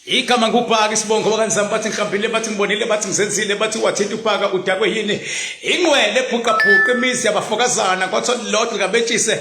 igama ngubhaka isibongo bakanizami bathi ngihambile bathi ngibonile bathi ngizenzile bathi wathinta ubhaka udakwe yini ingqwele ebhuqabhuqa imizi yabafokazana kwathiwa lilodwa likabetshise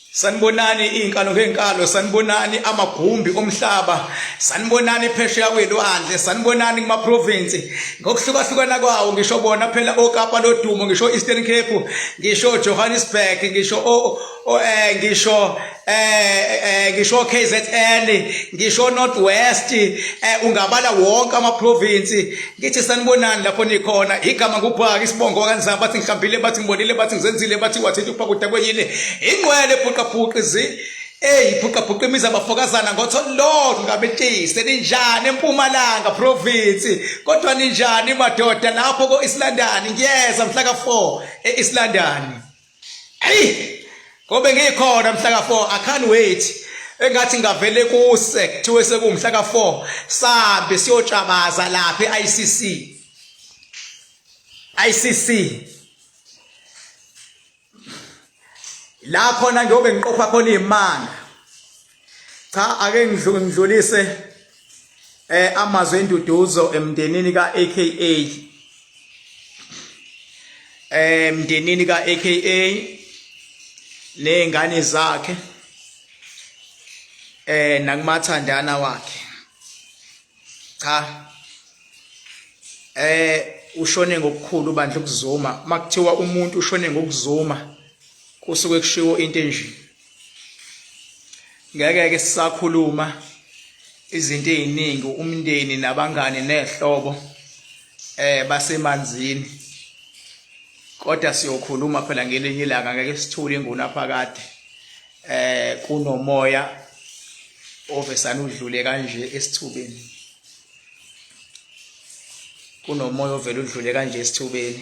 sanibonani iy'nkalo ngey'nkalo sanibonani amagumbi omhlaba sanibonani phesheya kwelwandle sanibonani kumaprovinsi ngokuhlukahlukana kwawo ngisho bona phela okapa lodumo ngisho eastern cape ngisho johannesburg ngisho um ngisho um ngisho k z n ngisho north west um ungabala wonke amaprovinsi Ngithi sanibonani lapho nikhona igama kuphaka isibongo wakanzama bathi ngihambile bathi ngibonile bathi ngizenzile bathi wathetha ukuphakuda kwenyile ingqwele phuqaphuqa izi eyi phuqaphuqa imizi abafokazana ngotholilodwa ngabetise ninjani empumalanga provinsi kodwa ninjani madoda lapho ko-islandani ngiyeza mhla ka-four e-islandani Hey! Ngobe ngikhona mhla ka4 I can't wait. engathi ngavele kuse kuthiwe sekumhla ka4 sambe siyotshabaza lapha eICC ICC la khona ngiyobe ngiqopha khona imanga cha ake ngidlulise eh amazwi enduduzo emndenini ka AKA eh mndenini ka AKA nezingane zakhe eh nakumathandana wakhe cha eh ushone ngokukhulu bandla ukuzuma makuthiwa umuntu ushone ngokuzuma kusuke kushiwo into enjini ngeke ke sisakhuluma izinto eziningi umndeni nabangani nezihlobo eh basemanzini kodwa siyokhuluma phela ngelinye ilanga ngeke sithule inguna phakade eh kunomoya ovesana udlule kanje esithubeni kunomoya ovela udlule kanje esithubeni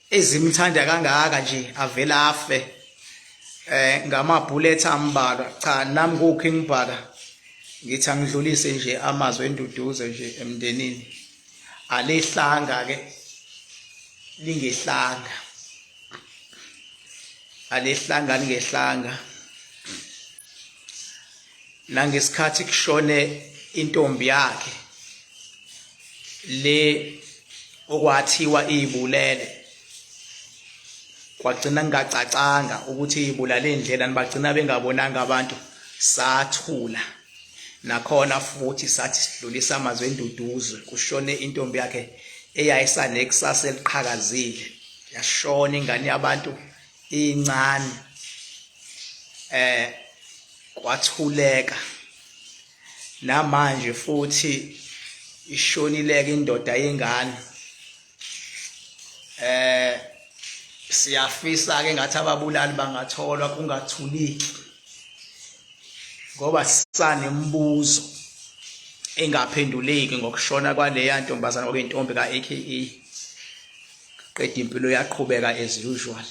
ezimthanda kangaka nje avela afe eh ngama bullet ambalwa cha nami ku King Bhaka ngithi angidlulise nje amazwi enduduzo nje emndenini alehlanga ke lingehlanga alehlanga lingehlanga nangesikhathi kushone intombi yakhe le okwathiwa ibulele kwagcina ngingacacanga ukuthi ibulale indlela nibagcina bengabonanga abantu sathula nakhona futhi sathi sidlulisa amazwi enduduzo kushone intombi yakhe eyayisanekusasa eliqhakazile yashona ingane yabantu incane eh kwathuleka namanje futhi ishonileke indoda yengane eh siyafisa ke ngathi ababulali bangatholwa kungathuliki ngoba sanembuzo engaphenduleki ngokushona kwaleya ntombazana okuyintombi ka-AKA qeda impilo yaqhubeka as usual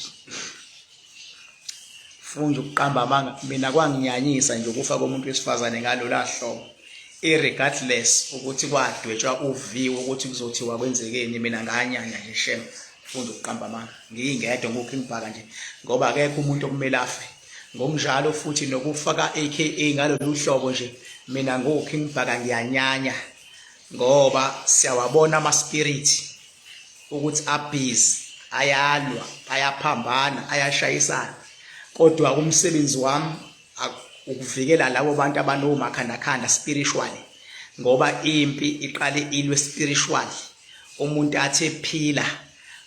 funda ukuqamba amanga mina kwanginyanyisa nje ukufa komuntu wesifazane ngalola hlobo irregardless ukuthi kwadwetshwa uviwo ukuthi kuzothiwa kwenzekeni mina nganyanya nje shem funda ukuqamba amanga ngiyingedwa ngokho engibhaka nje ngoba akekho umuntu okumele afe ngokunjalo futhi nokufaka aka ngalolu hlobo nje mina ngokho engibhaka ngiyanyanya ngoba siyawabona ama spirit ukuthi abhizi ayalwa ayaphambana ayashayisana kodwa umsebenzi wami ukuvikela labo bantu abanomakhandakhanda spiritually ngoba impi iqale ilwe spiritually umuntu athi ephila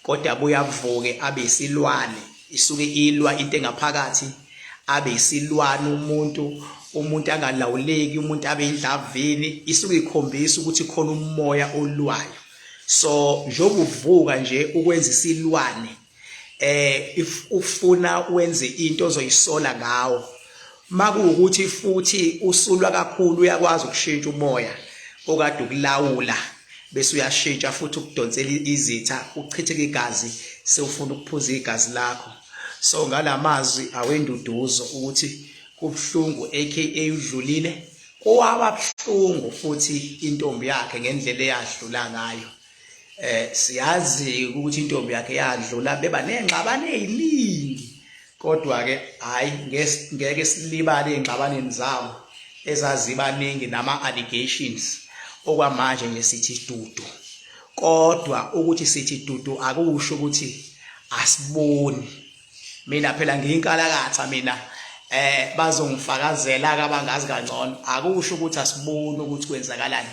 kodwa buyavuke abe isilwane isuke ilwa into engaphakathi abe isilwane umuntu umuntu angalawuleki umuntu abe indlavini isuke ikhombisa ukuthi khona umoya olwayo so njengokuvuka nje ukwenza isilwane eh if ufuna wenze into ozoyisola ngawo makuwukuthi futhi usulwa kakhulu uyakwazi ukushintsha umoya okade ukulawula bese uyashintsha futhi ukudonsela izitha uchitheke igazi sewufuna ukuphuza igazi lakho so ngalamazwi awenduduzo ukuthi kubhlungu aka udlulile kowababuhlungu futhi intombi yakhe ngendlela eyadlula ngayo eh siyazi ukuthi intombi yakhe yadlula beba nengxabane eziningi kodwa ke hayi ngeke silibale ingxabaneni zawo ezazibaningi nama allegations okwamanje nje sithi dudu kodwa ukuthi sithi dudu akusho ukuthi asiboni mina phela ngiyinkalakatha mina eh bazongifakazela kabangazi kangcono akusho ukuthi asiboni ukuthi kwenzakalani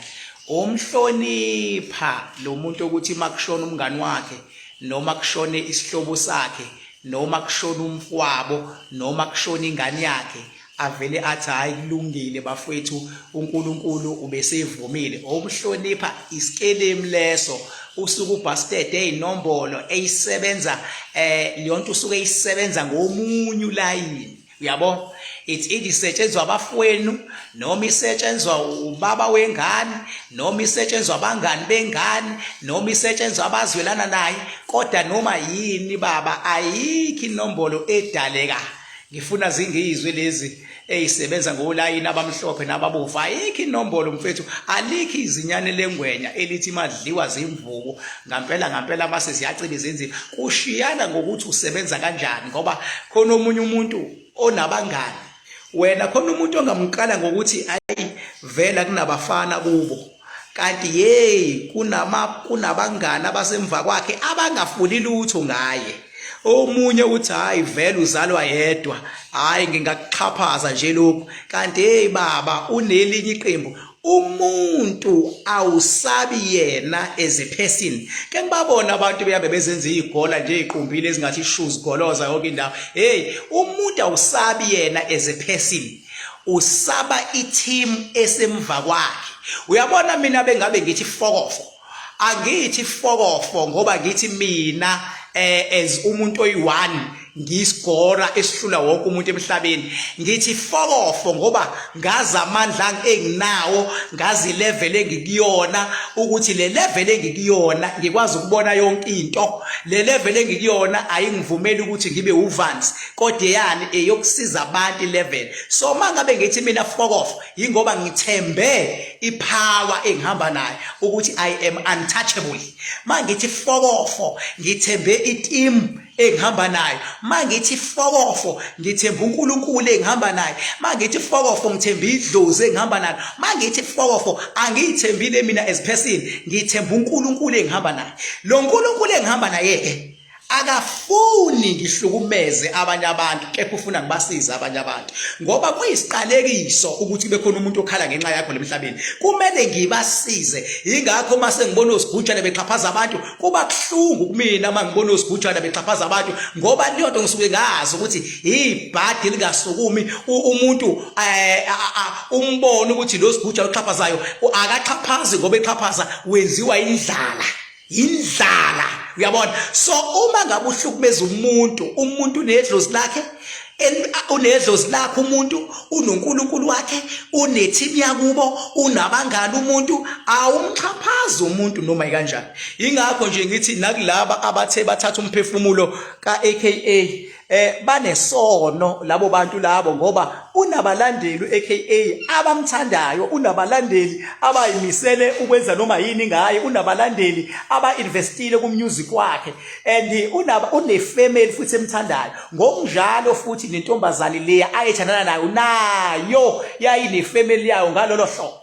umhlonipha lo muntu ukuthi makushona umngani wakhe noma kushone isihlobo sakhe noma kushona umfwabo noma kushona ingane yakhe avele athi hayi kulungile bafowethu uNkulunkulu ubesevumile obuhlonipha isikelemu leso usuke ubasted ezinombolo eyisebenza eh leyonto usuke eyisebenza ngomunye ulayini uyabo it's either isetshenzwa abafowenu noma isetshenzwa ubaba wengane noma isetshenzwa abangani bengane noma isetshenzwa abazwelana naye kodwa noma yini baba ayikho inombolo edaleka ngifuna zingiyizwe lezi eyisebenza ngolayini abamhlophe nababovu ayikho inombolo mfethu alikho izinyane lengwenya elithi madliwa zimvubu ngampela ngampela mase ziyaciba izinzima kushiyana ngokuthi usebenza kanjani ngoba khona omunye umuntu onabangani wena khona umuntu ongamqala ngokuthi ayi vela kunabafana kubo kanti hey kunama kunabangani abasemva kwakhe abangafuni lutho ngaye omunye uthi hayi vele uzalwa yedwa hayi ngingakuxhaphaza nje lokhu kanti hey baba unelinye iqembu umuntu awusabi yena as a person ke ngibabona abantu beyabe bezenza izigola nje iqumbile ezingathi shoes goloza yonke indawo hey umuntu awusabi yena as a person usaba i-team esemva kwakhe uyabona mina bengabe ngithi fokofo angithi fokofo ngoba ngithi mina eh as umuntu oyi-one ngiyisigora esihlula wonke umuntu emhlabeni ngithi fokofo ngoba ngazi amandla enginawo ngazi level engikuyona ukuthi le level engikuyona ngikwazi ukubona yonke into le level engikuyona ayingivumeli ukuthi ngibe uvansi kodwa yani eyokusiza abantu 11 so mangabe ngithi mina fokof yingoba ngithembe ipower engihamba nayo ukuthi i am untouchable mangithi fokofo ngithembe iteam engihamba nayo mangithi fokofo ngithemba uNkulunkulu engihamba naye mangithi fokofo ngithemba idlozi engihamba nalo mangithi fokofo angiyithembile mina as person ngithemba uNkulunkulu engihamba naye lo nkulunkulu engihamba naye ke akafuni ngihlukumeze abanye abantu kepha ufuna ngibasize abanye abantu ngoba kuyisiqalekiso ukuthi bekhona umuntu okhala ngenxa yakho lemhlabeni kumele ngibasize ingakho uma sengibona osigujana bexhaphaza abantu kuba kuhlungu kumina uma ngibona osigujana bexhaphaza abantu ngoba leyo nto ngisuke ngazi ukuthi ibhadi lingasukumi umuntu eh, umbone ukuthi lo sigujana oxhaphazayo akaxhaphazi ngoba exhaphaza wenziwa indlala yindlala uyabona so uma ngabe uhlukumeza umuntu umuntu unedlozi lakhe unedlozi lakhe umuntu unonkulunkulu wakhe unethimu yakubo unabangani umuntu awumxhaphazi umuntu noma ikanjani ingakho nje ngithi nakulaba abathe bathatha umphefumulo ka-aka eh banesono labo bantu labo ngoba unabalandeli eKA abamthandayo unabalandeli abayimisele ukwenza noma yini ngaye unabalandeli abainvestile kumusic wakhe and unaba unefamily futhi emthandayo ngokunjalo futhi nentombazane leya ayethandana nayo nayo yayinefamily yayo ngalolo hlobo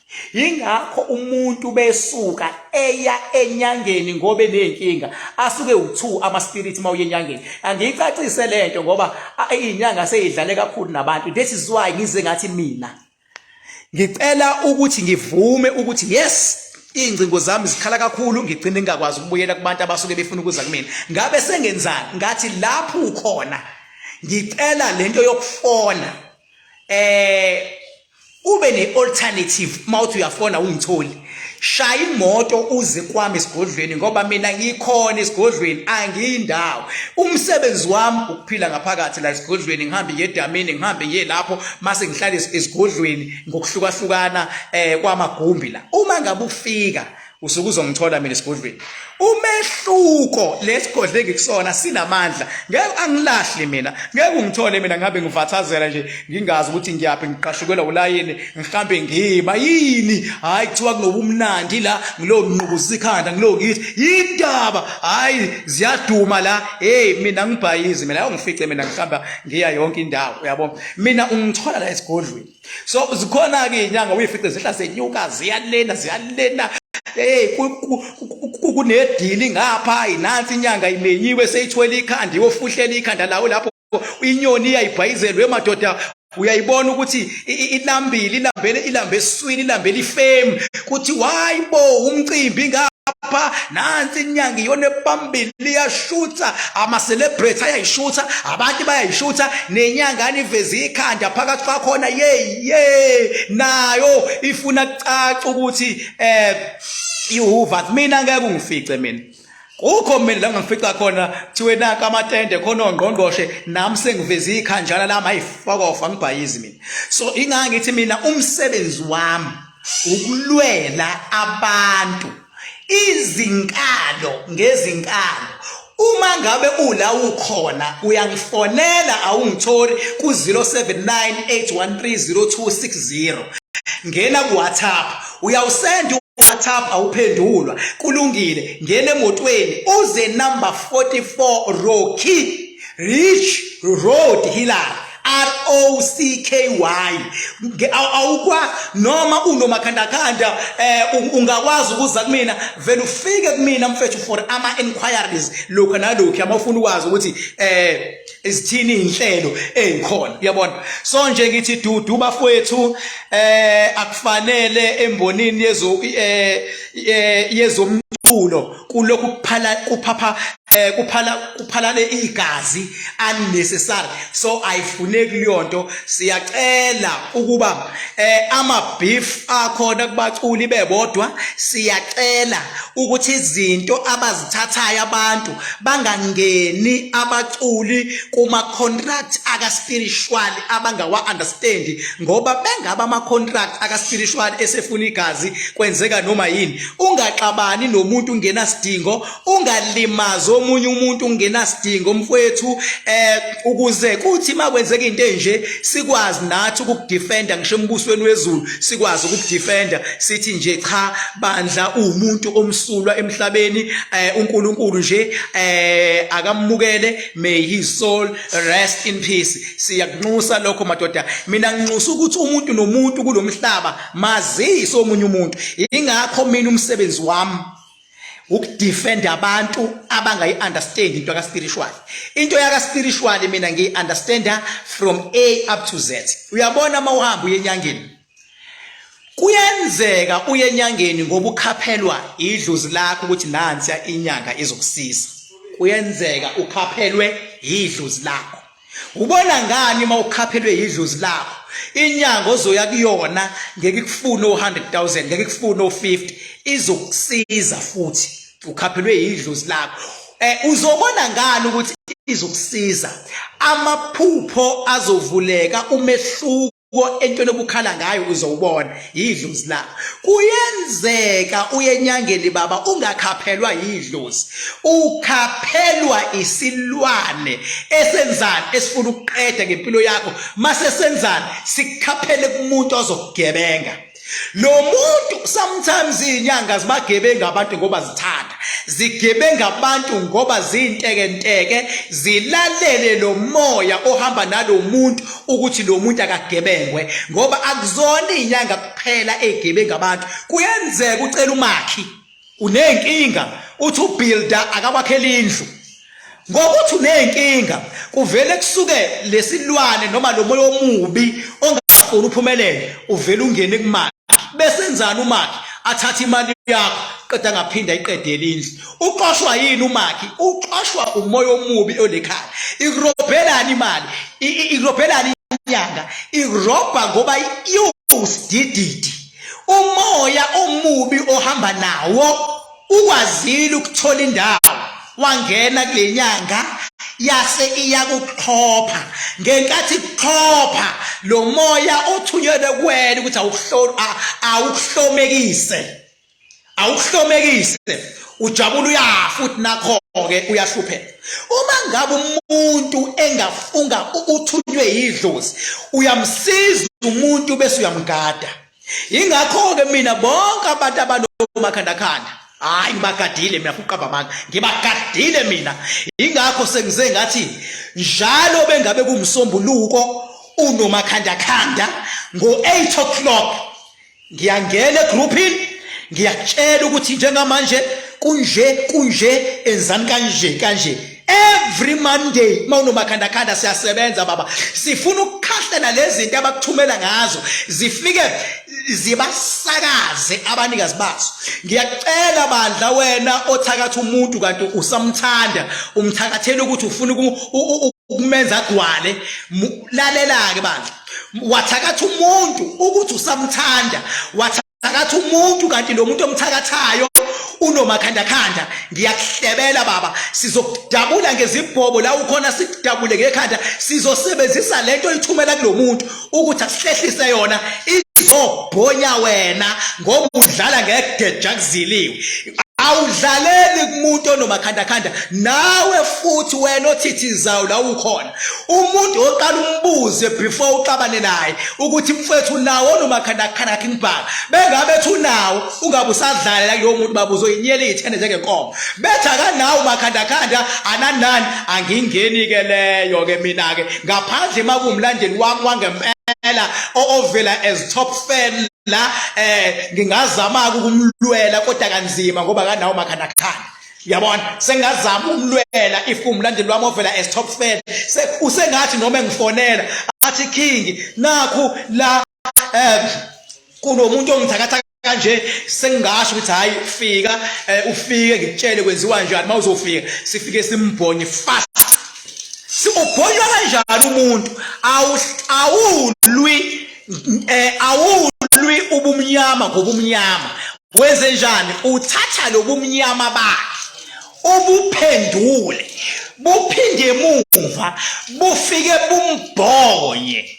yingakho umuntu besuka eya enyangeni ngobe nenkinga asuke u2 ama spirit mawuye enyangeni angiyicacise lento ngoba inyanga seyidlale kakhulu nabantu this is why ngize ngathi mina ngicela ukuthi ngivume ukuthi yes ingcingo zami zikhala kakhulu ngigcine ngingakwazi ukubuyela kubantu abasuke befuna ukuza kumina ngabe sengenzani ngathi lapho ukhona ngicela lento yokufona eh ube ne-alternative uma uthi uyafona ungitholi shaya imoto uze kwami esigodlweni ngoba mina ngikhona esigodlweni angiyindawo umsebenzi wami ukuphila ngaphakathi la esigodlweni ngihambe ngiye edamini ngihambe ngiye lapho mase ngihlale esigodlweni ngokuhlukahlukana eh kwamagumbi la uma ngabe ufika usuke uzongithola mina esigodlweni umehluko lesigodle engikusona sinamandla ngeke angilahli mina ngeke ungithole mina ngabe ngivathazela nje ngingazi ukuthi ngiyaphi ngiqashukelwa ulayini ngihambe ngiba yini hayi kuthiwa kunobumnandi la ngilo nqubuza ikhanda ngilo ngithi yindaba hayi ziyaduma la hey mina ngibhayizi mina awu ngifice mina ngihamba ngiya yonke indawo uyabo mina ungithola la esigodlweni so zikhona ke inyanga uyifice zihla senyuka ziyalena ziyalena hey kunedili ngapha inansi inyanga imenyiwe seyithwela ikhanda iyofuhlela ikhanda lawo lapho inyoni iyayibhayizelwe emadoda uyayibona ukuthi ilambile ilambele ilambe eswini ilambele ifame kuthi why bo umcimbi ngapha nansi inyanga iyona ebambile liyashutha ama-celebrate ayayishutha abantu bayayishutha nenyangane iveze ikhanda phakathi kwakhona yeyi ye nayo ifuna kucaca ukuthi um ihuva mina ngeke ungifice mina kukho mina la ngifica khona kuthiwe naka amatende khona ongqongqoshe nami sengiveze ikhanjana lami ayifokofa ngibhayizi mina so ingangithi mina umsebenzi wami ukulwela abantu izinkalo ngezinkalo uma ngabe ula ukhona uyangifonela awungitholi ku-07981302060 ngena ku-whatsapp uyawusenda WhatsApp awuphendulwa kulungile ngene emotweni uze number 44 Rocky Rich Road Hillary R O C K Y awukwa noma unomakhandakhanda eh ungakwazi ukuza kumina vele ufike kumina mfethu for ama inquiries lokho nalokho amafuna ukwazi ukuthi eh izithini inhlelo ezikhona uyabona so nje ngithi dudu bafowethu eh akufanele embonini yezo eh, eh yezomculo kulokhu kuphala kuphapha eh kuphala kuphalane igazi unnecessary so ayifune kuleyonto siyacela ukuba eh ama beef akhona kubaculi bebodwa siyacela ukuthi izinto abazithathayo abantu bangangeni abaculi kuma contract aka spiritual abangawa understand ngoba bengaba ama contract aka spiritual esefuna igazi kwenzeka noma yini ungaxabani nomuntu ungenasidingo ungalimazi omunye umuntu ungenasidingo mfowethu eh ukuze kuthi makwenzeka into enje sikwazi nathi ukukudefenda ngisho embusweni wezulu sikwazi ukukudefenda sithi nje cha bandla umuntu omsulwa emhlabeni eh uNkulunkulu nje eh akamukele may his soul rest in peace siyakunxusa lokho madoda mina nginxusa ukuthi umuntu nomuntu kulomhlaba mazise omunye umuntu ingakho mina umsebenzi wami ukudefend abantu abangayi understand into ka spiritual into yaka spiritual mina ngiyi understand from A up to Z uyabona uma uhamba uyenyangeni kuyenzeka uyenyangeni ngoba ukhaphelwa idlozi lakho ukuthi nansi inyanga izokusiza kuyenzeka ukhaphelwe idlozi lakho Ubona ngani uma ukhaphelwe yidlozi lakho? Inyanga ozoya kuyona ngeke ikufune o100,000, ngeke ikufune o50, izokusiza futhi ukhaphelwe yidlozi lakho. Eh uzobona ngani ukuthi izokusiza? Amaphupho azovuleka umehluko entweni obukhala ngayo uzowubona yidlozi la kuyenzeka uyenyangeni baba ungakhaphelwa yidlozi ukhaphelwa isilwane esenzani esifuna ukuqeda ngempilo yakho mase senzani sikhaphele kumuntu ozokugebenga lo muntu sometimes izinyanga zibagebenga abantu ngoba zithanda zigebenga abantu ngoba zintekenteke zilalele lo moya ohamba nalo muntu ukuthi lo muntu akagebengwe ngoba akuzona izinyanga kuphela egebenga abantu kuyenzeka ucela umakhi uney'nkinga uthi ubuilda akabakhela indlu ngokuthi uney'nkinga kuvele kusuke lesilwane noma lo moya omubi ongafuni uphumelele uvele ungene kumali besenzani umakhi athathe imali yakho qeda ngaphinda iqedele indlu uqoshwa yini umakhi uqoshwa umoya omubi olekhaya ikurobhelani imali ikurobhelani inyanga irobha ngoba iwusidididi umoya omubi ohamba nawo ukwazile ukuthola indawo wangena kule nyanga yase iyakuxhopha ngenkathi kuxhopha lo moya othunyelwe kuwena ukuthi awuhlomekise awuhlomekise ujabula uyafa futhi nakho-ke uyahlupheka uma ngabe umuntu engafunga uthunywe yidlozi uyamsiza umuntu bese uyamgada yingakho-ke mina bonke abantu abanomakhandakhanda hhayi ngibagadile mina fuqaba amanga ngibagadile mina yingakho sengize ngathi njalo bengabe kumsombuluko unomakhandakhanda ngo-8 o'clock ngiyangena egroupini ngiyakutshela ukuthi njengamanje kunje kunje enzani kanje kanje every monday uma unomakhandakhanda siyasebenza baba sifuna ukukhahlela lezi zinto abakuthumela ngazo zifike zibasakaze abanikazi bazo ngiyacela bandla wena othakatha umuntu kanti usamthanda umthakathela ukuthi ufuna ukumenza agwale lalela-ke bandla wathakatha umuntu ukuthi usamthanda wathakatha umuntu kanti lo muntu omthakathayo unomakhandakhanda ngiyakuhlebela baba sizokudabula ngezibhobo la ukhona sikudabule ngekhanda sizosebenzisa le nto oyithumela kulo muntu ukuthi asihlehlise yona izobhonya wena ngoba udlala ngegeja kuziliwe awudlaleli kumuntu onomakhandakhanda nawe futhi wena othithizayo la ukhona umuntu oqala umbuze before uxabane naye ukuthi mfethu nawo onomakhandakhanda akhe ngibhaka bengabe ethi unawo ungabe usadlalela kulowo muntu baba uzoyinyela iy'thende njengenkomo bethi akanawo umakhandakhanda ananani angingeni-ke leyo-ke mina-ke ngaphandle makuwumlandeli wami wangempela ovela as top fan la eh ngingazama ukumlwela kodwa kanzima ngoba kanawo makhanda khanda yabona sengazama umlwela if kumlandi lwami ovela as top fan usengathi noma engifonela athi king nakhu la eh kunomuntu ongithakatha kanje sengasho ukuthi hayi fika eh, ufike ngikutshele kwenziwa njani mawuzofika sifike simbhonye fast siubhonywa kanjani umuntu awulwi eh awulwi ubumnyama ngobumnyama wenze njani uthatha lobumnyama bakhe ubuphendule buphinde emuva bufike bumbhonye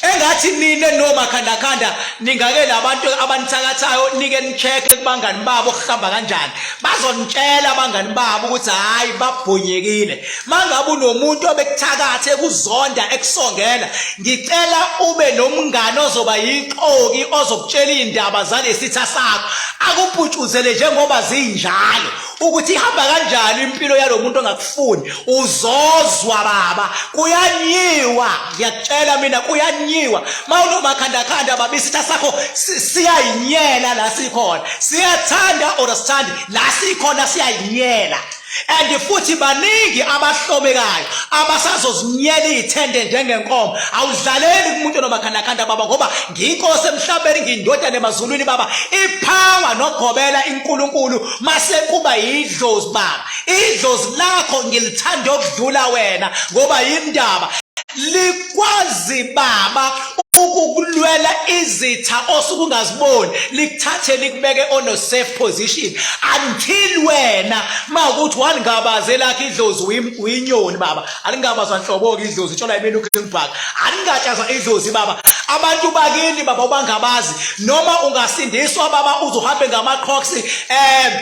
engathi nina nomakhandakhanda ningake labantu abanithakathayo nike nicheck-e kubangani babo kuhamba kanjani bazonitshela abangani babo ukuthi hhayi babhonyekile mangabe unomuntu obekuthakatha ekuzonda ekusongela ngicela ube nomngane ozoba yixoki ozokutshela iy'ndaba zalesitha sakho akuputshuzele njengoba zinjalo ukuthi ihamba kanjalo impilo yalo muntu ongakufuni uzozwa baba kuyanyiwa ngiyakutshela mina kuyanyiwa ma unomakhandakhanda baba isitha sakho siyayinyela la sikhona siyathanda or sithandi la sikhona siyayinyela and futhi baningi abahlomekayo abasazozinyela iy'thende njengenkomo awudlaleli kumuntu nomakhandakhanda baba ngoba ngiyinkosi emhlabeni ngiyindodana emazulwini baba iphawa nogobela inkulunkulu masekuba yidlozi baba idlozi lakho ngilithanda okudlula wena ngoba yindaba kwazi baba ukukulwela izitha osuke ungaziboni likuthathe likubeke on a safe position until wena ma ukuthi walingabaze lakhe idlozi uyinyoni baba alingabazwa nhlobo-ke idlozi itshola imini ugreenback alingatshazwa idlozi baba abantu bakini baba ubangabazi noma ungasindiswa baba uzohambe ngamaqhoksi um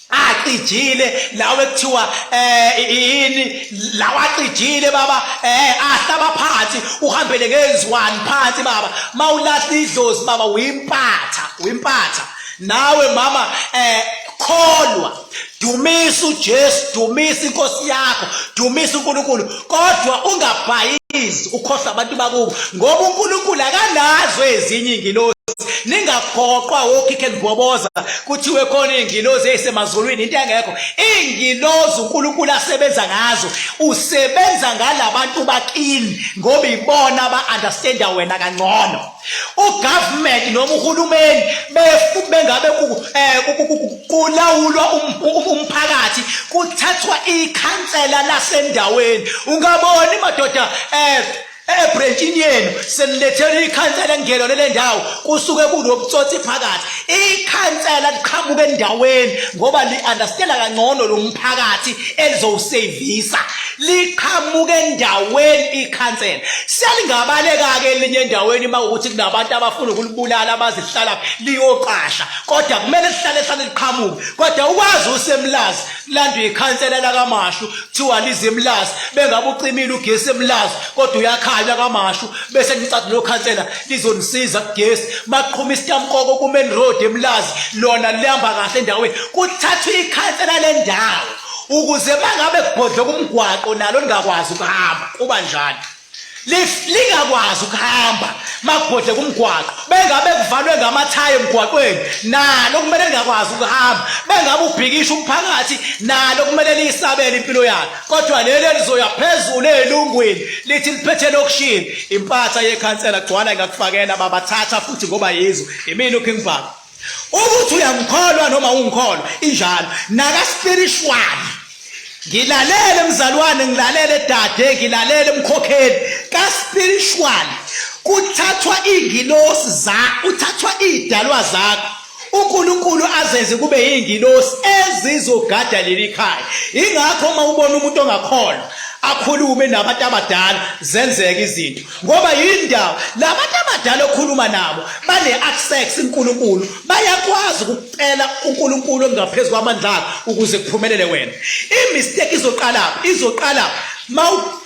acijile lawo ekuthiwa eh yini lawo acijile baba eh ahlaba phansi uhambele ngeziwani phansi baba mawulahla idlozi baba uyimpatha uyimpatha nawe mama eh kholwa dumisa uJesu dumisa inkosi yakho dumisa uNkulunkulu kodwa ungabhayizi ukhohlwa abantu bakubo ngoba uNkulunkulu akanazo ezinye ingilosi ningaphoqwa wokhikhe nigoboza kuthiwe khona ingilozi eyisemazulwini into engekho ingilozi uNkulunkulu asebenza ngazo usebenza ngalabantu bakini ngoba ibona aba understanda wena kangcono ugovernment noma uhulumeni bengabe eh, kulawulwa um, um, um, umphakathi kuthathwa ikhansela lasendaweni ungaboni madoda um ebhrentshini yenu senilethele ikhansela ngelo lele ndawo kusuke kunobutsotsi phakathi ikhansela liqhamuka endaweni ngoba li-understanda kangcono lo mphakathi elizowusevisa liqhamuke endaweni ikhansela selingabaleka-ke elinye endaweni uma ukuthi kunabantu abafuna ukulibulala abazihlala liyoqasha kodwa kumele lihlale hlale liqhamuke kodwa ukwazi usemlazi landwe ikhansela lakamashu kuthiwa lize emlazi bengabe ucimile ugesi emlazi kodwa uyakhanya kamashu bese nicatha lo khansela lizonisiza kugesi maqhuma isitamkoko kumain road emlazi lona lihamba kahle endaweni kuthathwa ikhansela lendawo ukuze mangabe kubhodloka umgwaqo nalo lingakwazi ukuhamba kuba njani lingakwazi ukuhamba makubhodleka umgwaqo bengabe kuvalwe ngamathayi emgwaqweni nalo kumele lingakwazi ukuhamba bengabe ubhikisha umphakathi nalo kumele liyisabele impilo yakhe kodwa leli elizoya phezulu elungwini lithi liphethe lokushini impatha yekhansela gcwala ingakufakela babathatha futhi ngoba yizo imini uking bhaka ukuthi uyangikholwa noma ungikholwa injalo naka spiritual ngilalele mzalwane ngilalele dade ngilalele mkhokheli ka spiritual kuthathwa ingilosi za uthathwa idalwa zakho uNkulunkulu azenze kube ingilosi ezizogada leli khaya ingakho uma ubona umuntu ongakholwa akhulume nabantu abadala zenzeke izinto ngoba yindawo labantu abadala okhuluma nabo bane access uNkulunkulu bayakwazi ukucela uNkulunkulu ongaphezulu kwamandla akhe ukuze kuphumelele wena imistake izoqala izoqala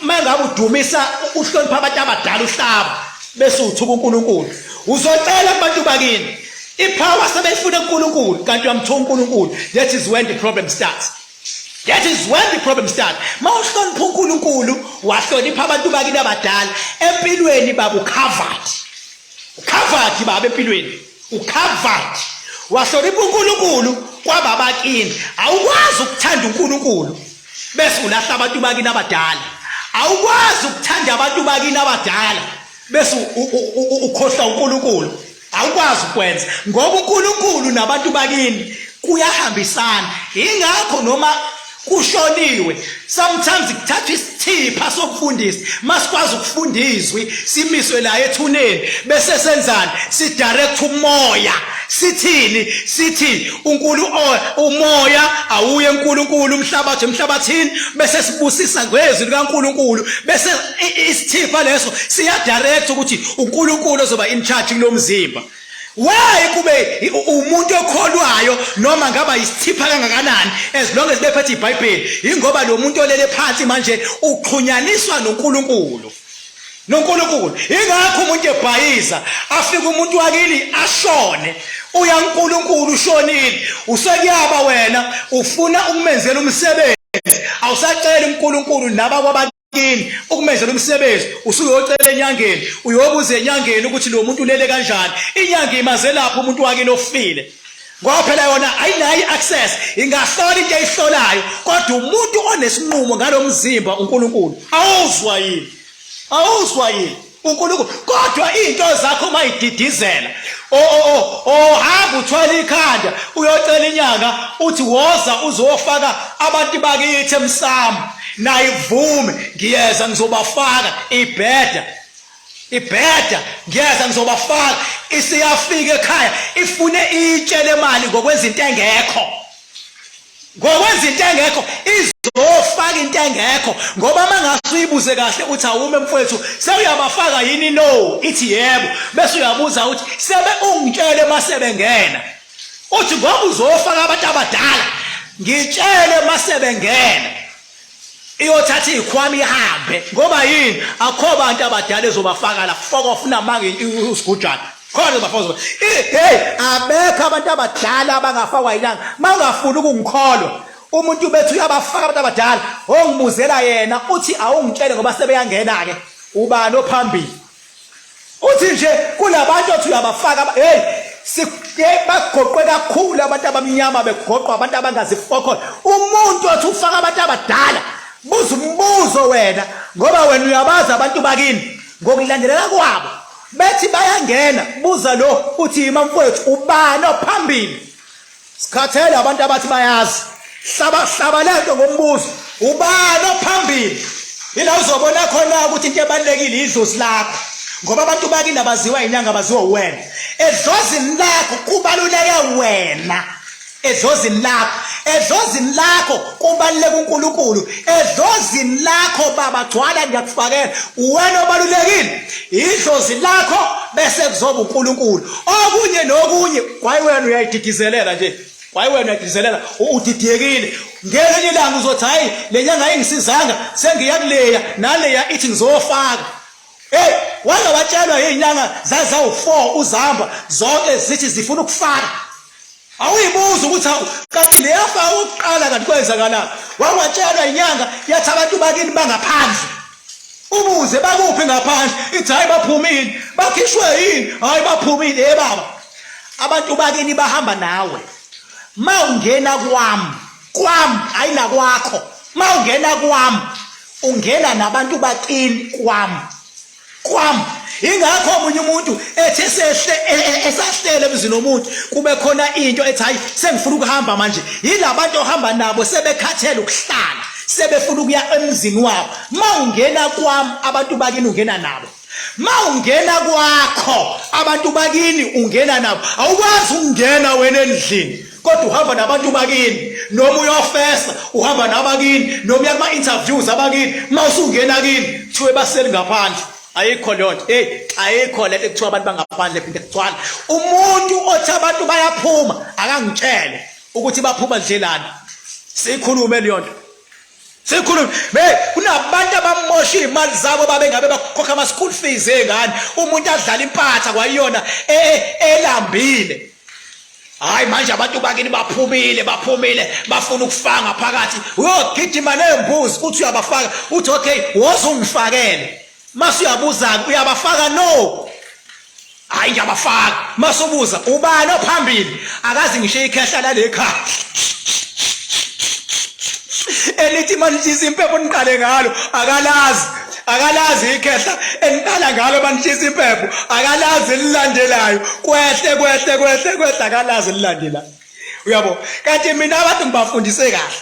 mangabe udumisa uhlonipha abantu abadala uhlaba bese uthuka uNkulunkulu uzocela kubantu bakini ipower sebeyifuna uNkulunkulu kanti uyamthuka uNkulunkulu that is when the problem starts That is when the problem start. Mawuhlonipha uNkulunkulu, wahlonipha abantu bakini abadala, empilweni baba ucovered. Ucovered baba empilweni. Ucovered. Wahlonipha uNkulunkulu kwababa kini. Awukwazi ukuthanda uNkulunkulu bese ulahla abantu bakini abadala. Awukwazi ukuthanda abantu bakini abadala bese ukhohlwa uNkulunkulu. awukwazi ukwenza ngoba uNkulunkulu nabantu bakini kuyahambisana ingakho noma kushoniwe sometimes kuthathwa isithipha sokufundisa masikwazi ukufunda izwi simiswe la ethuneni bese senzani sidirect umoya sithini sithi uNkulu umoya awuye uNkulunkulu umhlabathi emhlabathini bese sibusisa ngezwi likaNkulunkulu bese isithipha leso siyadirect ukuthi uNkulunkulu ozoba in charge kulo mzimba why kube umuntu okholwayo noma ngaba isithipha kangakanani as long as bephethe ibhayibheli yingoba lo muntu olele phansi manje uxhunyaniswa noNkulunkulu noNkulunkulu ingakho umuntu ebhayiza afike umuntu wakini ashone uya uNkulunkulu ushonile usekuyaba wena ufuna ukumenzela umsebenzi awusacela uNkulunkulu naba kwabantu kini ukumenzela umsebenzi usuke yocela enyangeni uyobuza enyangeni ukuthi lo muntu ulele kanjani inyanga imazelapha umuntu wakini ofile ngoba phela yona ayinayo i-access ingahlola into eyihlolayo kodwa umuntu onesinqumo ngalo mzimba unkulunkulu awuzwa yini awuzwa yini uNkulunkulu kodwa izinto zakho uma ididizela o o o ohamba uthwala ikhanda uyocela inyanga uthi woza uzofaka abantu bakithi emsamo naye kuvume ngiyeza ngizobafaka ibheda ibheda ngiyeza ngizobafaka isiyafika ekhaya ifune itshele imali ngokwezinto engekho ngokwenza into engekho izofaka into engekho ngoba uma ngase uyibuze kahle uthi awume mfowethu sewuyabafaka yini no ithi yebo bese uyabuza ukuthi sebe ungitshele uma sebengena uthi ngoba uzofaka abantu abadala ngitshele uma sebengena iyothatha ikhwama ihambe ngoba yini akho bantu abadala ezobafaka la foko ofuna mange usigujana khona bafozo hey abekho abantu abadala abangafakwa ilanga mangafuni ukungikholwa umuntu bethu uyabafaka abantu abadala ongibuzela yena uthi awungitshele ngoba sebeyangena ke ubani ophambili uthi nje kunabantu othi uyabafaka hey bagoqwe kakhulu abantu abamnyama begoqwa abantu abangazifokhona umuntu othi ufaka abantu abadala buza umbuzo wena ngoba wena uyabazi abantu bakini ngokulandelela kwabo bethi bayangena buza lo uthi yima mfowethu ubani ophambili Sikhathele abantu abathi bayazi. Hlaba hlaba lento ngombuzo. Ubani ophambili? Ila uzobona khona ukuthi into ebalekile idlozi lakho. Ngoba abantu bakini abaziwa inyanga baziwa wena. Edlozini lakho kubaluleke wena. Edlozini lakho. Edlozini lakho kubaluleke uNkulunkulu. Edlozini lakho baba gcwala ngiyakufakela. Wena obalulekile. Idlozi lakho bese kuzoba uNkulunkulu. okunye nokunye kwaye wena uyayididizelela nje kwaye wena uyayididizelela udidiyekile ngelinye ilanga uzothi hhayi le nyanga ingisizanga sengiya kuleya naleya ithi ngizofaka Hey wake watshelwa izinyanga zazawufo uzamba zonke zithi zifuna ukufaka awuyibuza ukuthi awu kanti leyafa okokuqala kanti kwenzakalani wangatshelwa inyanga yathi abantu bakini bangaphandle ubuze bakuphi ngaphandle ithi hhayi baphumile bakhishwe yini hhayi baphumile ye baba abantu bakini bahamba nawe ma ungena kwami kwami hhayi nakwakho ma ungena kwami ungena nabantu bakini kwami kwami ingakho omunye umuntu ethi esehle e, e, esahlele emzini omuntu kube khona into ethi hayi sengifuna ukuhamba manje yilabantu ohamba nabo sebekhathele ukuhlala sebefuna ukuya emzini wabo mawungena kwami abantu bakini ungena nabo mawungena kwakho abantu bakini ungena nabo awukwazi ukungena wena endlini kodwa uhamba nabantu bakini noma uyofesa uhamba nabakini noma uya kuma-interviews abakini uma usungena kini kuthiwe baseli ngaphandle ayikho leyo nto eyi ayikho le nto ekuthiwa abantu bangaphandle phinde kugcwala umuntu othi abantu bayaphuma akangitshele ukuthi baphuma ndlelani siyikhulume leyo nto Sikhuluma hey kunabantu abamosha imali zabo babe ngabe bakhokha ama school fees ezingane umuntu adlala impatha kwayona e, e, elambile hayi manje abantu bakini baphumile baphumile bafuna ukufanga phakathi uyogijima nembuzi uthi uyabafaka uthi okay wozungifakele Mase uyabuza uyabafaka no. Hayi ngiyabafaka. Mase ubuza ubani ophambili akazi ngisho ikhehla lalekhaya. Elithi manitshisa impepho niqale ngalo akalazi akalazi ikhehla eniqala ngalo banitshisa impepho akalazi elilandelayo kwehle kwehle kwehle kwehle akalazi elilandelayo uyabo kanti mina abantu ngibafundise kahle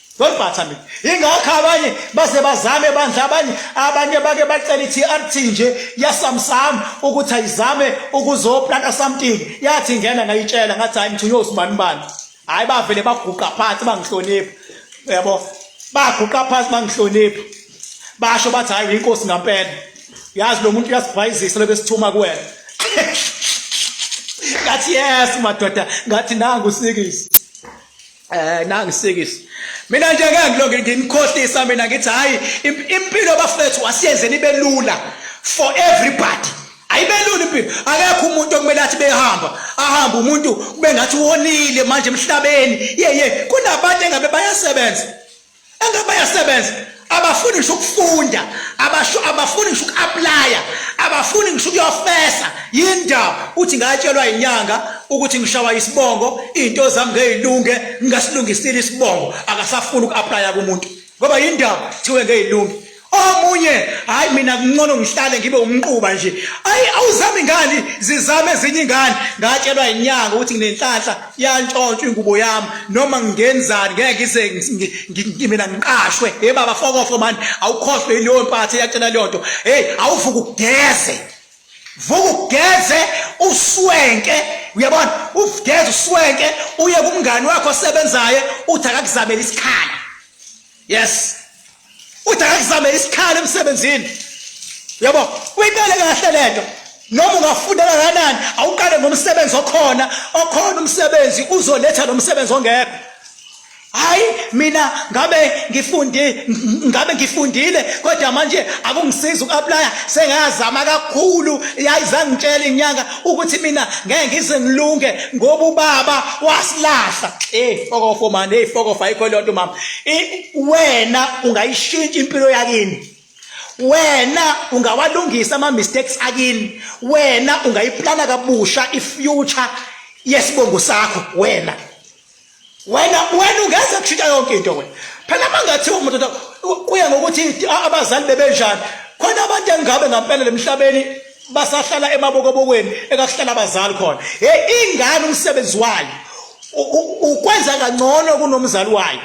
Don't bother me. Ingakho abanye base bazame bandla abanye abanye bake bacela iTRT nje yasamsam ukuthi ayizame ukuzoplanta something. Yathi ngena ngayitshela ngathi hayi ngithunywe usibani bani. Hayi bavele baguqa phansi bangihlonipha. Yabo. Baguqa phansi bangihlonipha. Basho bathi hayi inkosi ngampela. Yazi lo muntu uyasibhayizisa lobe sithuma kuwena. Ngathi yes madoda, ngathi nangu sikisi. Eh nangisikisi. Mina nje ke ngilonge nginikhohlisa mina ngithi hayi impilo bafethu asiyenze nibe lula for everybody. Ayibelula impilo. Akekho umuntu okumele athi behamba. Ahamba umuntu kube ngathi wonile manje emhlabeni. Yeye kunabantu engabe bayasebenza. engabe bayasebenza abafuni ngisho ukufunda abasho abafuni ngisho uku-aplaya abafuni ngisho ukuyofesa yindaba uthi ngatshelwa inyanga ukuthi ngishawa isibongo iy'nto zami ngeyilunge ngingasilungisile isibongo akasafuni uku-aplaya kumuntu ngoba yindaba kuthiwe ngeyilunge omunye hayi mina kuncono ngihlale ngibe umnquba nje ayi awuzami ngani zizame ezinye ingane ngatshelwa inyanga ukuthi nginenhlanhla yantshontshwa ingubo yami noma ngingenzani ngeke ngize mina ngiqashwe hey baba fokofo mani awukhohlwe ileyo mpathe yacela leyo nto hey awuvuka ugeze vuka ugeze uswenke uyabona ugeze uswenke uye kumngani wakho osebenzayo uthi akakuzamela isikhala yes uthi akakuzame isikhala emsebenzini yabo uyiqale kahle lento noma ungafunda kangakanani awuqale ngomsebenzi okhona okhona umsebenzi uzoletha lo msebenzi ongekho hayi mina ngabe ngifundi ngabe ngifundile kodwa manje akungisiza uku-aplya sengazama kakhulu yayi zangitshela inyanga ukuthi mina ngeke ngize ngilunge ngoba ubaba wasilahla eyi fokofo mani eyi fokofo ayikho leyo nto mama wena ungayishintsha impilo yakini wena ungawalungisa ama mistakes akini wena ungayiplana kabusha i future yesibongo sakho wena wena wena ungeza kushintsha yonke into wena phela mangathi umuntu kuya ngokuthi abazali bebenjani khona abantu engabe ngampela emhlabeni basahlala emabokobokweni ekakuhlala abazali khona hey ingane umsebenzi wayo ukwenza kangcono kunomzali wayo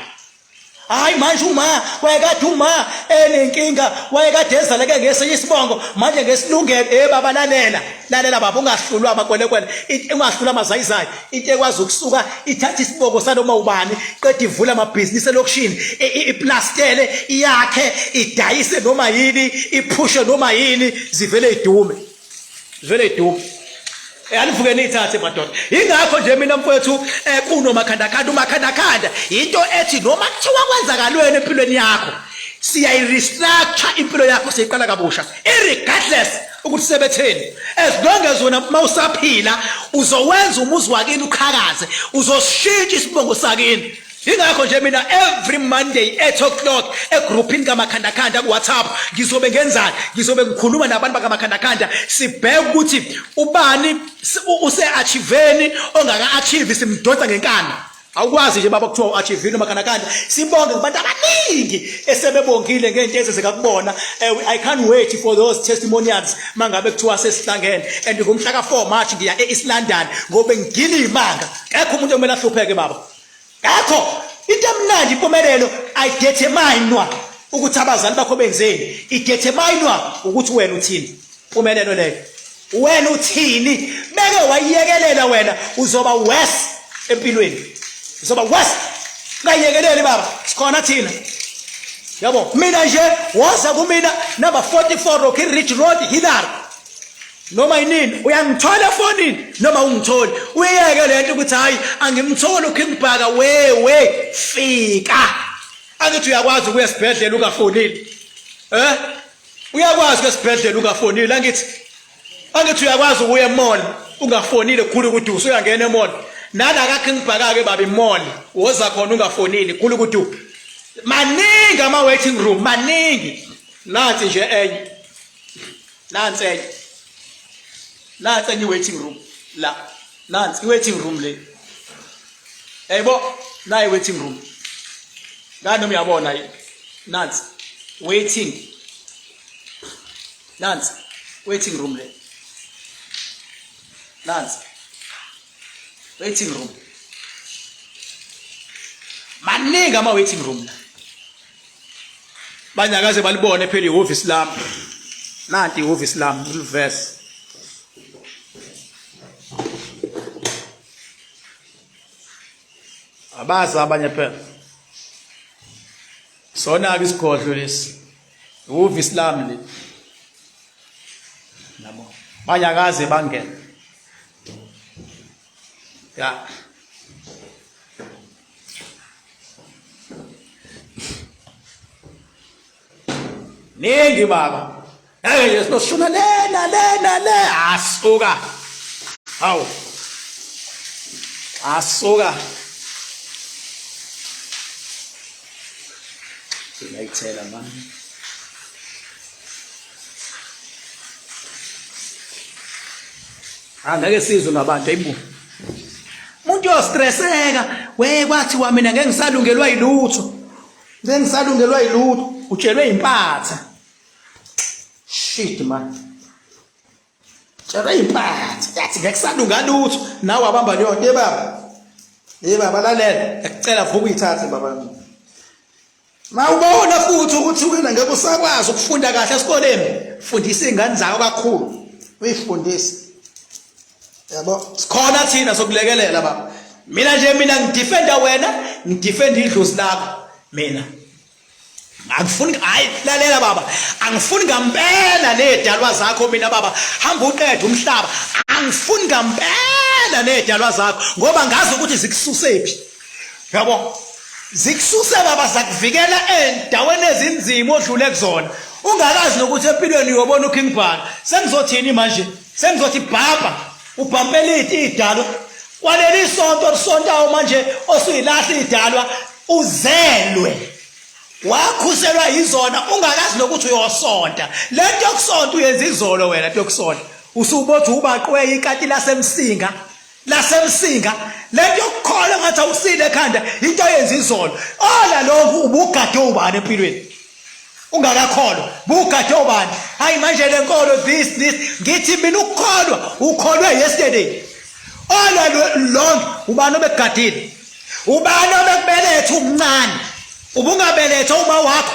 hayi manje uma wayekade uma enenkinga wayekade ezaleke ngesinye isibongo manje ngesilungelo eh baba lalela lalela baba ungahlulwa amakwelekwele ungahlulwa amazayizayi into ekwazi ukusuka ithatha isibongo sanoma ubani qeda ivula amabhizinisi elokishini iplastele iyakhe idayise noma yini iphushe noma yini zivele idume zivele idume eh, anivuke niyithathe madoda yingakho nje mina mfowethu um eh, kunomakhandakhanda umakhandakhanda yinto ethi noma kuthiwa kwenzakalweni empilweni yakho siyayirestructure impilo yakho siyiqala kabusha irregardless ukuthi sebetheni as long as wena uma usaphila uzowenza umuzi wakini uqhakaze uzosishintsha isibongo sakini ingakho nje mina every monday 8 o'clock egrouphini kamakhandakhanda kuwhatsapp ngizobe ngenzani ngizobe ngikhuluma nabantu bakamakhandakhanda sibheke ukuthi ubani use-achiveni ongaka-achivi simdonsa ngenkanda Awukwazi nje baba kuthiwa uAchivino makhanakanda sibonge kubantu abaningi esebebongile ngento ezenzeka kubona eh, I can't wait for those testimonials mangabe kuthiwa sesihlangene and ngomhla ka 4 March ngiya eEast London ngobe ngigila imanga akekho umuntu omele ahlupheke baba akekho into emnandi impumelelo I determine ukuthi abazali bakho benzeni i determine ukuthi wena uthini Pumelelo leyo. Wena uthini? Beke wayekelela wena uzoba worse empilweni. Uzoba worse. Ngayekeleli baba. Sikhona thina. Yabo, mina nje woza kumina number 44 Rocky Ridge Road Hillary. Noma yini uyangithola efonini noma ungitholi. Uyeke lento ukuthi hayi angimtholi uKing Bhaka wewe fika. Angithi uyakwazi ukuya esibhedlela ungafonile. Eh? uyakwazi esibhedlela ungafonile angithi angithi uyakwazi ukuya emall ungafonile khulu ukuthi usuyangena emall nala kakhe ngibhakake baba imall woza khona ungafonile khulu ukuthi maningi ama waiting room maningi nansi nje enye nansi enye nansi enye waiting room la nansi i-waiting room le yayibo nayi waiting room ngani noma uyabona yi nansi waiting nansi waiting room le nansi waiting room maningi ama-waiting room la banyakaze balibone phela ihhovisi lami nanti ihhovisi lami ngilivese abazi abanye phela sona-ke isigodlo lesi ihhovisi lami le nabo banyakaze bangena ya ningi baba hey yesinoshuna lena lena le asuka hawu asuka ngayithela manje Ah ngeke sizwe ngabantu ayibo. Umuntu uyostresseka we kwathi wa mina ngeke ngisalungelwa yilutho. Ngeke ngisalungelwa yilutho utshelwe impatha. Shit man. Tshelwe impatha yathi ngeke salunga lutho nawe abamba leyo nto ebaba. Hey baba lalela, ngicela vuka uyithathe baba. Mawubona futhi ukuthi wena ngeke usakwazi ukufunda kahle esikoleni, fundisa izingane zakho kakhulu. Uyifundise. Yabo, sikhona thina sokulekelela baba. Mina nje mina ngidefenda wena, ngidefenda idlozi lakho. Mina angifuni hayi lalela baba angifuni ngampela nezidalwa zakho mina baba hamba uqede umhlaba angifuni ngampela nezidalwa zakho ngoba ngazi ukuthi zikususephi yabo zikususa baba sakuvikela endaweni ezinzima odlule kuzona ungakazi nokuthi empilweni uyobona uking bhaka sengizothini manje sengizothi bhabha ubhampele idalo kwaleli sonto olisontayo manje osuyilahla idalwa uzelwe wakhuselwa yizona ungakazi nokuthi uyosonta le nto yokusonta uyenza izolo wena nto yokusonta usubothi ubaqweya ikati lasemsinga lasemsinga lento yokukhola ngathi awusile ekhanda into yenza izolo ola lokhu ubugade ubani empilweni ungakakholwa bugade ubani hayi manje le nkolo this this ngithi mina ukukholwa ukholwe yesterday ola long ubani obegadile ubani obekubeletha umncane ubungabelethwa uma wakho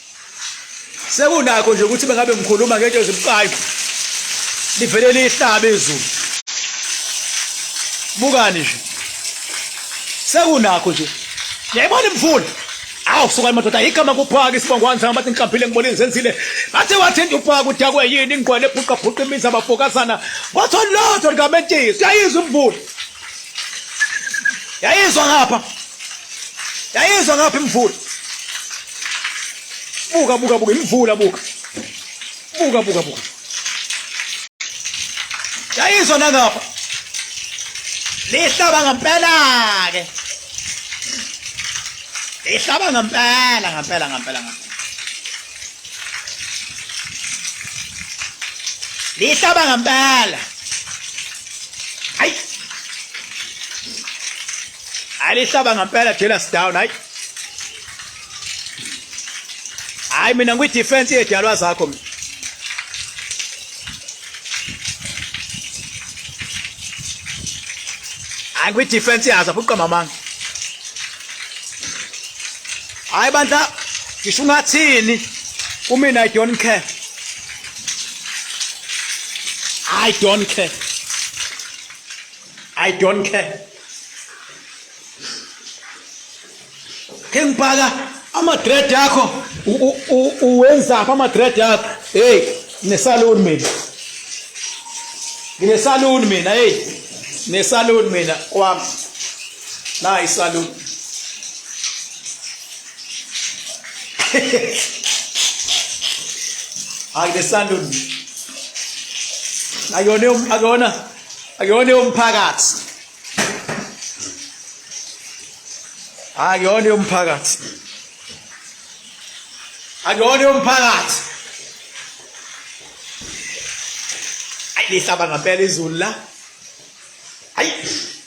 sekunakho nje ukuthi bengabe ngikhuluma ngento ezibucayi livele lihlabe izulu bukani nje sekunakho nje yayibona imvula awu sukani madoda yigama kuphaka isibongwane sami bathi ngihlambile ngibona izenzile bathe wathinta uphaka udakwe yini ingqwele ebhuqabhuqa imizi abafokazana wathola lotho likamentisi uyayizwa imvula yayizwa ngapha yayizwa ngapha imvula buka buka buka imvula buka buka buka buka yayizwa nangapha lihlaba ngempela ke lihlaba ngempela ngempela ngempela ngempela lihlaba ngempela hayi alihlaba ngempela jealous down hayi hayi mina ngwi defense yedalwa zakho mina angwi defense yazo abuqamba manga hayi bandla ngisho ungathini kumina i don't care i don't care i don't care ke ngibhaka ama-dread yakho uwenzaphi ama-dread yakho heyi nginesaluni mina nginesaluni mina heyi nginesaluni mina kwami Na isalon. Hayi le salon. Ayone um, akona akone umphakathi. Akone umphakathi. Akone umphakathi. Ayi lihlaba ngempela izulu la. Ayi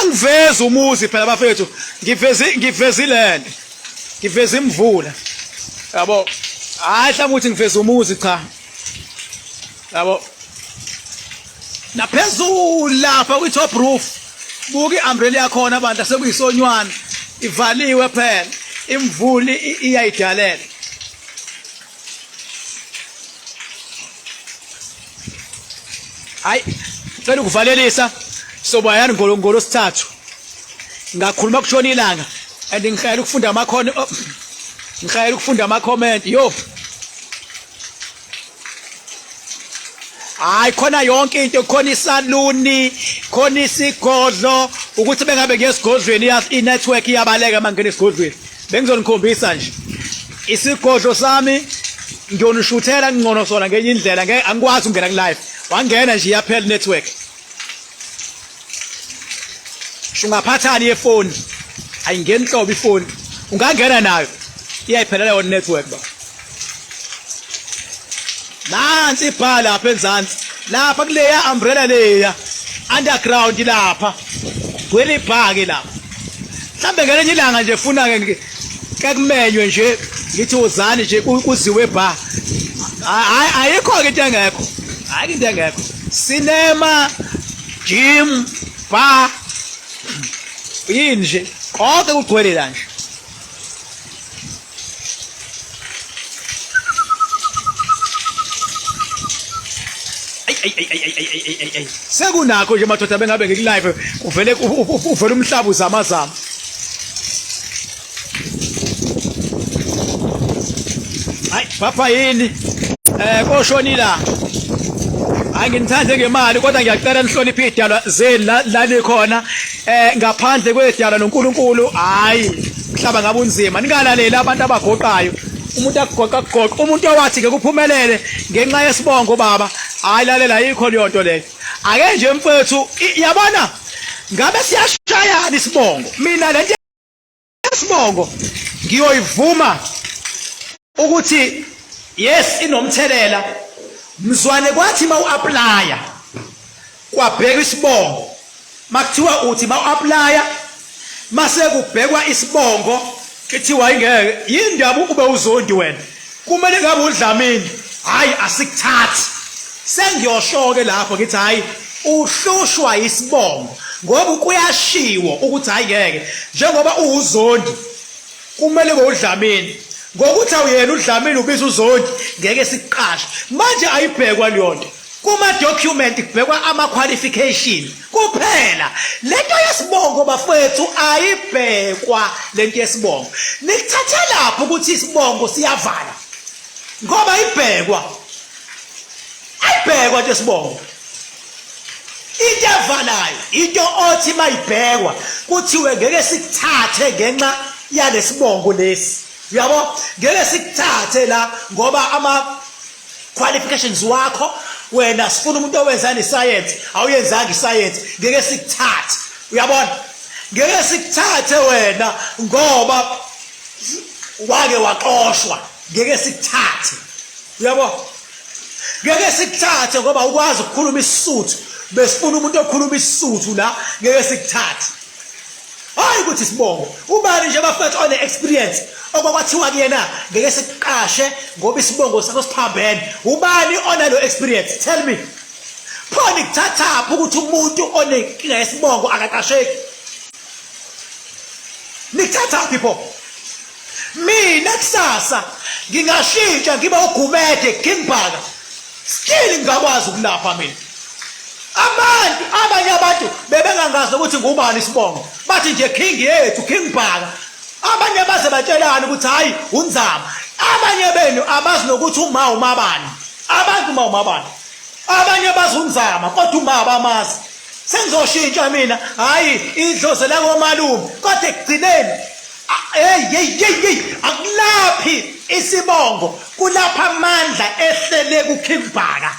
angivezi umuzi phela bafethu ngivezi ngivezi land ngivezi imvula yabo hayi hlanga ukuthi ngivezi umuzi cha yabo naphezulu lapha kwi top roof buka i-umbrella yakhona abantu asekuyisonywana ivaliwe phela imvuli iyayidalela hayi cela ukuvalelisa soba yani ngolongolo sithathu ngakhuluma kushona ilanga and ngihayela ukufunda amakhona oh, ngihayela ukufunda ama comment yo hayi khona yonke into khona isaluni khona isigodlo ukuthi bengabe ngiyesigodlweni i-network iyabaleka uma ngingena esigodlweni bengizonikhombisa nje isigodlo sami ngiyonishuthela ngcono sona ngenye indlela ngeke angikwazi ukungena ku-live wangena nje iyaphela network shungaphathani yefoni ayingeni nhlobo ifoni ungangena nayo iyayiphela leyo network ba nansi ibha lapha enzansi lapha kuleya umbrella leya underground lapha gwele ibhake lapha mhlambe ngelenye ilanga nje funa ke kekumenywe nje ngithi uzani nje kuziwe bha hayi ayikho ke into engekho hayi into engekho cinema gym bar yini nje konke kugcwele la nje sekunakho nje madoda bengabe ngikulive uvele uvele umhlaba uzamazama hayi papa yini eh koshonila angithande ngemali kodwa ngiyacela nihloniphe idalwa zeni la nikhona eh ngaphandle kwedala noNkulunkulu hayi mhlaba ngabe unzima ningalaleli abantu abagoqayo umuntu agoqa goqa umuntu owathi ke kuphumelele ngenxa yesibongo baba hayi lalela yikho leyo nto leyo ake nje mfethu yabona ngabe siyashayana isibongo mina lento Sibongo ngiyoyivuma ukuthi yes inomthelela mzwane kwathi ma uapply kwabheka isibongo makuthiwa uthi ma uapply mase kubhekwa isibongo kuthiwa ingeke yindaba ube uzondi wena Kumele ngabe uDlamini hayi asikuthathi. Sengiyoshoke lapho ngithi hayi uhlushwa isibongo ngoba kuyashiwo ukuthi hayi ngeke njengoba uwuzondi kumele ngowudlamini ngokuthi awuyena udlamini ubiza uzondi ngeke siqashe manje ayibhekwa leyonto Kuma-document kubhekwa ama-qualification kuphela. Le nto yesibongo bafowethu ayibhekwa le nto yesibongo. Nikuthathelaphi ukuthi isibongo siyavala ngoba ayibhekwa ayibhekwa nto yesibongo into evalayo into othi mayibhekwa kuthiwe ngeke sikuthathe ngenxa yalesibongo lesi uyabo ngeke sikuthathe la ngoba ama qualifications wakho wena sifuna umuntu owenzani science awuyenzanga iscience ngeke sikuthathe uyabona ngeke sikuthathe wena ngoba wake waxoshwa ngeke sikuthathe uyabo ngeke sikuthathe ngoba ukwazi ukukhuluma isisuthu besifuna umuntu okhuluma isisuthu la ngeke sikuthathe hayi ukuthi sibongo ubani nje bafethu one experience okwakwathiwa kuyena ngeke siqashe ngoba isibongo sakho siphambene ubani onalo experience tell me phone kuthathaphi ukuthi umuntu onenkinga yesibongo akaqasheki nikuthathaphi pho mina kusasa ngingashintsha ngiba ugumede kingbhaka still ngingakwazi ukulapha mina abantu abanye abantu bebengangazi ukuthi ngubani isibongo bathi nje king yethu king bhaka abanye baze batshelana ukuthi hhayi unzama abanye benu abazi nokuthi uma umabani abantu uma umabani abanye bazi unzama kodwa uma abamazi sengizoshintsha mina hhayi idlozi lakomalume kodwa ekugcineni Hey hey hey hey akulaphi isibongo kulapha amandla ehlele ku King Bhaka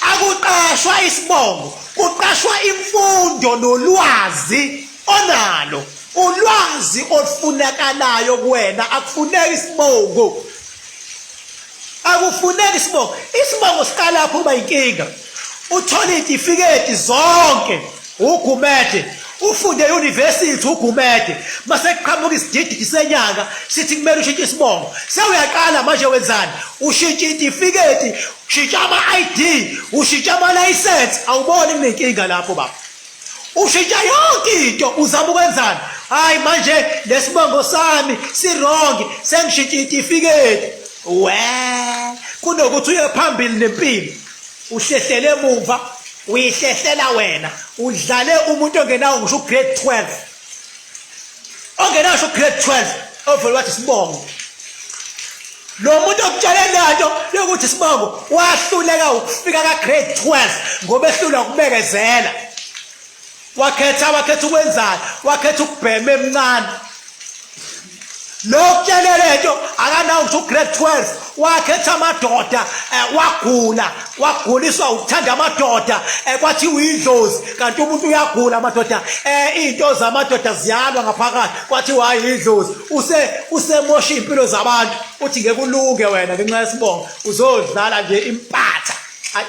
akuqashwa isibongo kuqashwa imfundo nolwazi onalo ulwazi olufunakalayo kuwena akufuneki isibongo akufuneki isibongo isibongo siqalapho uba inkinga uthole iy'tifiketi zonke ugumede ufunde e-university ugumede mase kuqhamuka isidididi senyanga sithi kumele ushintshe isibongo sewuyaqala manje wenzani ushintshe iy'tifiketi ushintshe ama-i d ushintshe amalayisensi awuboni kunenkinga lapho baba ushintsha yonke into uzama ukwenzani hayi manje lesibongo sami sirongi sengishintsha itifiketi we kunokuthi uye phambili nempilo uhlehlele emuva uyihlehlela wena udlale umuntu ongenawo ngisho ugrade 12 ongenasho grade 12 ovele wathi sibongo lo muntu okutshele lento yokuthi sibongo wahluleka ukufika ka grade 12 ngoba ehlula ukubekezela wakhetha wakhetha ukwenzani wakhetha ukubhema emncane lokutshele lento akanawo ukuthi ugrade 12 wakhetha amadoda eh, wagula waguliswa ukuthanda amadoda eh, kwathi uyidlozi kanti umuntu uyagula amadoda eh, iy'nto zamadoda ziyalwa ngaphakathi kwathi wayidlozi usemosha iy'mpilo zabantu uthi ngeke ulunge wena ngenxa yesibongo uzodlala nje impatha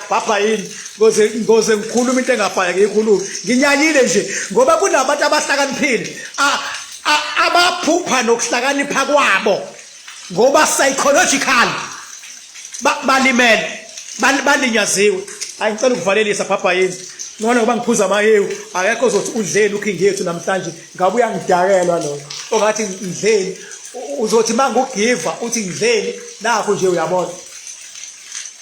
bhabha yini ngoze ngoze ngikhuluma into engabhaya ngiyikhuluma nginyanyile nje ngoba kunabantu abahlakaniphile abaphupha nokuhlakanipha kwabo ngoba psychological balimele balinyaziwe ayi ngicela ukuvalelisa bhabha yini ngona ngoba ngiphuza amahewu akekho zothi udleni ukhingi yethu namhlanje ngabe uyangidakelwa loyo ongathi ngidleni uzothi mangugiva uthi ngidleni nakho nje uyabona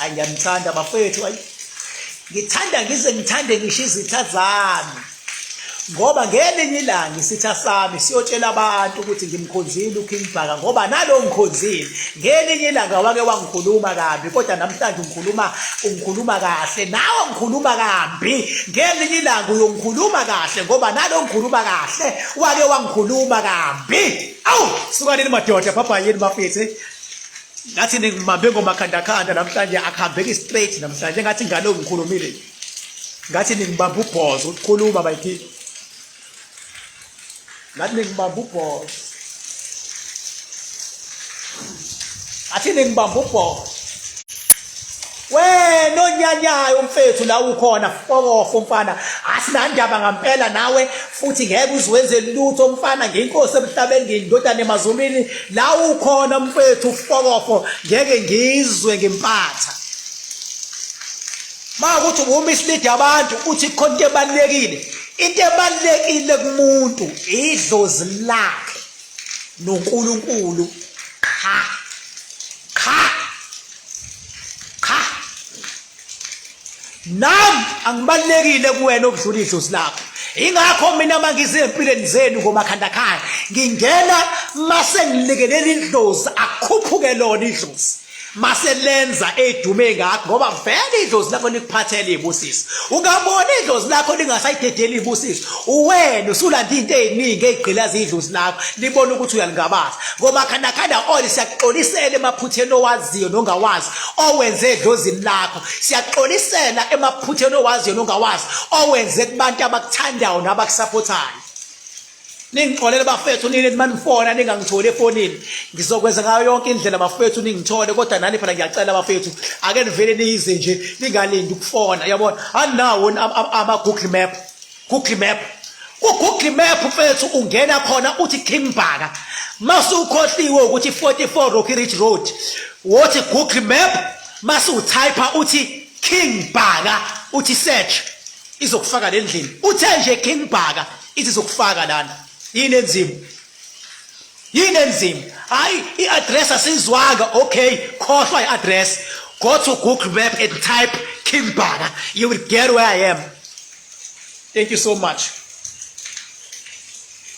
ayi ngiyamthanda bafethu ayi ngithanda ngize ngithande ngisho izitha zami ngoba ngelinye ilanga isitha sami siyotshela abantu ukuthi ngimkhonzile uKing Bhaka ngoba nalo ngikhonzile ngelinye ilanga wake wangikhuluma kabi kodwa namhlanje ungikhuluma ungikhuluma kahle nawe ngikhuluma kabi ngelinye ilanga uyongikhuluma kahle ngoba nalo ngikhuluma kahle wake wangikhuluma kambi awu sukanini madoda bhabhayeni bafethe ngathi ningibambe ngomakhandakhanda namhlanje akuhambeki straight namhlanje ngathi ingane ongikhulumile ngathi ningibamba ubhozo ukukhuluma bayithi ngathi ningibamba ubhozo ngathi ningibamba ubhozo wena onyanyayo mfethu la ukhona fokofo mfana asinandaba ngampela nawe futhi ngeke uziwenze lutho mfana ngenkosi emhlabeni ngindodana emazulwini la ukhona mfethu fokofo ngeke ngizwe ngempatha ma ukuthi uma isilidi abantu uthi khona into ebalulekile into ebalulekile kumuntu idlozi lakhe noNkulunkulu qha qha cha nam angibalulekile kuwena okudlula idlozi lakho ingakho mina mangize empilweni zenu ngomakhanda khaya ngingena mase ngilekelela idlozi akhuphuke lona idlozi mase lenza edume ngakho ngoba vele idlozi lakho likuphathele ibusiso ungabona idlozi lakho lingasayidedeli ibusiso uwena usulanda into eziningi ezigqilaza idlozi lakho libona ukuthi uyalingabaza ngoba khandakanda oli siyakuxolisela emaphutheni owaziyo nongawazi owenze edlozini lakho siyakuxolisela emaphutheni owaziyo nongawazi owenze kubantu abakuthandayo nabakusapothayo ningixolele bafethu nini manifona ningangitholi efonini ngizokwenza ngayo yonke indlela bafethu ningithole kodwa nani phela ngiyacela bafethu ake nivele niyize nje ningalindi ukufona yabona anawo ama-google map Google Map ku-Google Map mfethu ungena khona uthi King Bhaka masukhohliwe ukuthi 44 Rocky Ridge Road wothi Google Map masutype uthi King Bhaka uthi search izokufaka lendlini uthe nje King Bhaka ithi izokufaka lana yini enzima yini enzima hayi i-address asizwanga okay khohlwa i-address go to google map and type king bana you will get where i am thank you so much